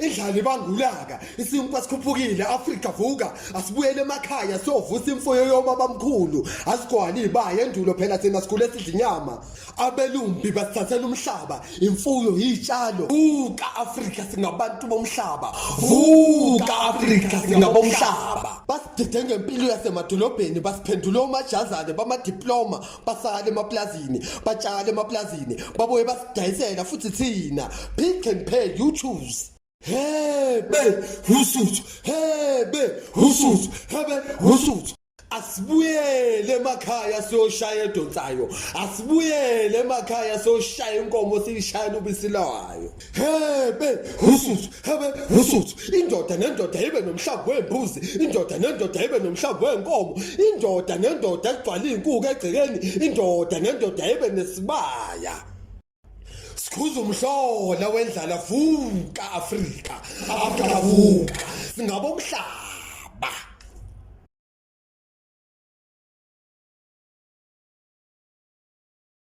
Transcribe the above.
Indlala ibangulaka, isinkwa sikhuphukile, Afrika vuka, asibuyele emakhaya sovusa imfuyo yobaba mkhulu, asigwali ibaye endulo phela thina sikhule sidla inyama. Abelumbi basithathela umhlaba, imfuyo yitshalo. Vuka Afrika singabantu bomhlaba. Vuka Afrika singabomhlaba. Basidide ngempilo yasemadolobheni, basiphendula omajazane bamadiploma, basale emaplazini batshale emaplazini babuye basidayisela futhi thina pick and pay you choose hebe usuthu hebe usuthu hebe usuthu asibuyele emakhaya siyoshaya edonsayo asibuyele emakhaya siyoshaya inkomo siyishayela ubisi layo hebe ususu hebe ususu indoda nendoda ibe nomhlambi wembuzi indoda nendoda ibe nomhlambi wenkomo indoda nendoda egcwala inkuku egcekeni indoda nendoda ibe nesibaya sikhuza umhlola wendlala vuka afrika afrika vuka singabomhlaba